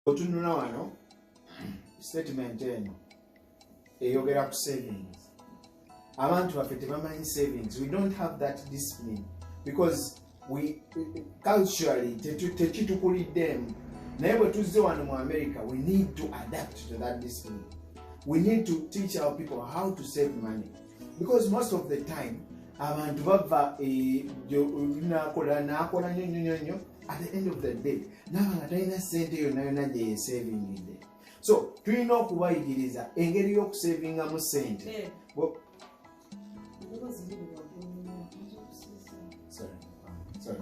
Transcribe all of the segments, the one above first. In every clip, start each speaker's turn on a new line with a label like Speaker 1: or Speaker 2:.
Speaker 1: otunula wano statement eno eyogera ku savings abantu baffe tebamanyi savings we don't have that discipline because we culturally tekitukuliddemu naye bwe tuzze wano mu america we need to adapt to that discipline we need to teach our people how to save money because most of the time abantu bava eh, nakola nakola nyo nyo nyo nyo at the end of the day naba nga talina sente yona yona gyeyesavingidde so tulina okubayigiriza engeri y'okusavingamu sente eh. Sorry. Sorry.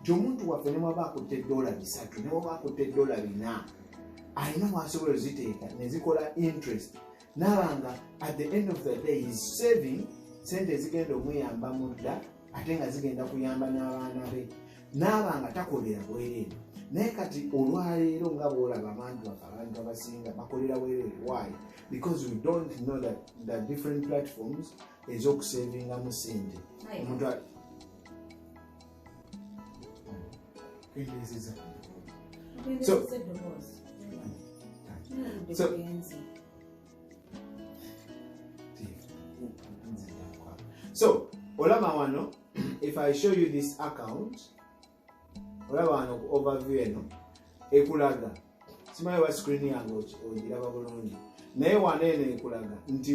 Speaker 1: nti omuntu waffe newaba akutte edola bisatu newaba akutte edola bina alina mwasobola oziteeka nezikola interest naba nga at the end of the day is saving sente ezigenda omuyamba mudda ate nga zigenda kuyamba n'abaana be naaba nga takolera bwereere naye kati olwaleero nga bwolaba abantu bafe abantu abasinga bakolera bwereere why because we don't know that the different platforms ezokusavingamu sente omuntu so olaba wano if i show you this account olaba wano ku overview eno ekulaga simanyi wa screen yange ogiraba bulungi naye wano eno ekulaga nti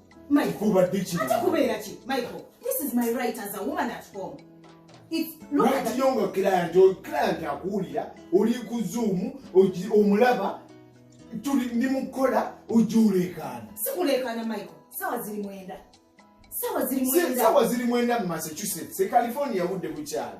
Speaker 2: lwakiyonga client oyo
Speaker 1: client akuwulira oli ku zoom omulaba tuli ndi mukukola ojja oleekaana sikuleekaana
Speaker 2: michael sawa ziri mwenda sawa ziri
Speaker 1: mwenda mu massachusetts e california budde bukyalo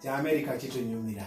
Speaker 1: kya amerika kitunyumira